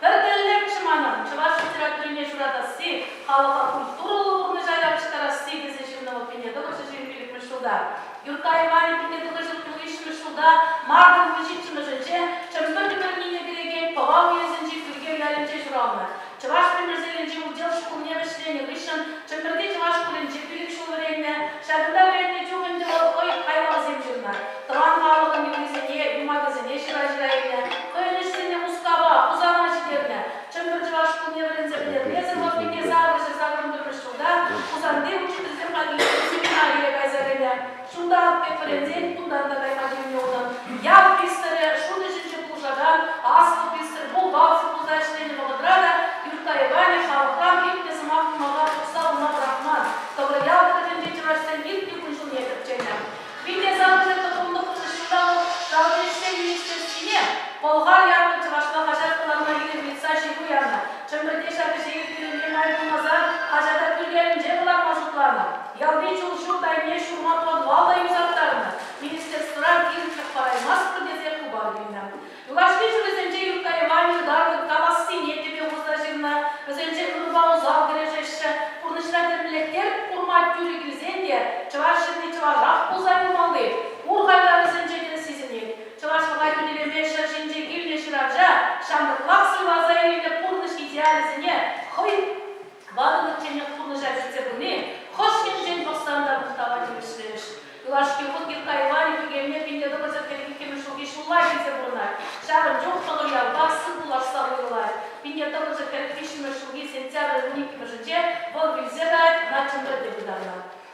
Пӗр тӗллевӗшӗ манӑн, чӑваш литературине ҫуратасси, халӑха культурӑллӑ пурнӑҫа явӑҫтарасси, тесе ҫыннӑн опытне тӑхӑрҫӑ ҫын пилӗкмӗш ҫулта, Юрттай Иванӗ пике тӑхӑрҫӑн ҫурвиҫҫӗмӗш ҫулта, Мартын вунҫиччӗмӗшӗнче, Чӗмпӗр ӗмӗрне кӗрекен Пӑва уесӗнчи Пӳркел ялӗнче ҫуралнӑ, чӑваш Ӗмӗрселӗнчи удел шкулне вӗҫленӗ хыҫҫӑн Чӗмпӗрти чӑваш шкулӗнче пилӗк ҫул вӗреннӗ. Ҫакӑнта вӗреннӗ чух ӗнтӗ вӑл хӑй хайлавсем ҫырнӑ, тӑван халӑхӑн юррисене, юмахӗсене ҫыра-ҫыра илнӗ, хӑйӗн ӗҫсене Мускава, Хусана ҫитернӗ. Чӗмпӗр чӑваш шкулне вӗренсе пӗтермесӗр вӑл пике сакӑрҫӑ-сакӑрӑн пӗрмӗш ҫулта Хусанти учительсем хатӗрленӗ семинарие кайса кӗнӗ. Чунта аппе пӗрӗнсен тутарта кайма тивнӗ унӑн. Ял пристрӗ шут ӗҫӗнче пулӑшакан аслӑ пристрӗ бухгалтер пулса ӗҫленӗ вӑхӑтра та Юртта Иванӗ халӑхран илтнӗ сӑмах кӑмӑла тухса уна пӑрахман. Тӑврӑ ял тӑрӑхӗнчи чӑвашсем иртнӗ кун-ҫулне тӗпченӗ. Вите савӑчӗ тӑхӑмлӑ хушӑҫулланӑ шалти ӗҫсен министерствине Пӑлхар ятлӑ чӑвашла хаҫат кӑларма илем ыйтса ҫыру янӑ. Чӗмпӗрте ҫак ӗҫе ирттернине май пулмасан хаҫата пӗлтерӗнче кӑларма шутланӑ. Ялти чул ҫурт айне ҫурма подвала юсаттарнӑ. Министерствӑран килӗшӳ параймастпӑр тесе хыпар илнӗ. Юлашки ҫулӗсенче Юрккаева ҫӑлтаркӑн калассине тӗпе хурса ҫырнӑ. Вӗсенче ӑнӑпа усал кӗрешеҫҫӗ. Пурнӑҫра тӗрлӗлӗхсем курма тӳрӗ килсен те чӑваш ҫынни чӑвашах пулса юлмалли пур хайлавӗсенче те сисӗнет. Чӑвашлӑха хӳтӗлеме ҫӗр ҫинче килнӗ ҫыравҫа ҫамрӑклах суйласа илнӗ пурнӑҫ идеалӗсене хӑй ватӑлнӑчченех пурнӑҫа килсе пыни хӑш енчен пӑхсан та мухтава тивӗҫлемӗш. Юлашки хут Михха Иванӗ Кикелне пин тӑкӑлчӑк хӗлӗх иккӗмӗш ҫулхи ҫулла килсе пурӑнать. Ҫавӑн чух сӑвӑ ялпа сывпуллашса уйрӑлать. Пинне тӑкӑлчӑк хӗлӗх виҫҫӗмӗш ҫулхи сентябрӗн вун иккӗмӗшӗнче вӑл вилсе каять, ӑна чӗмпӗрте пытанӑ.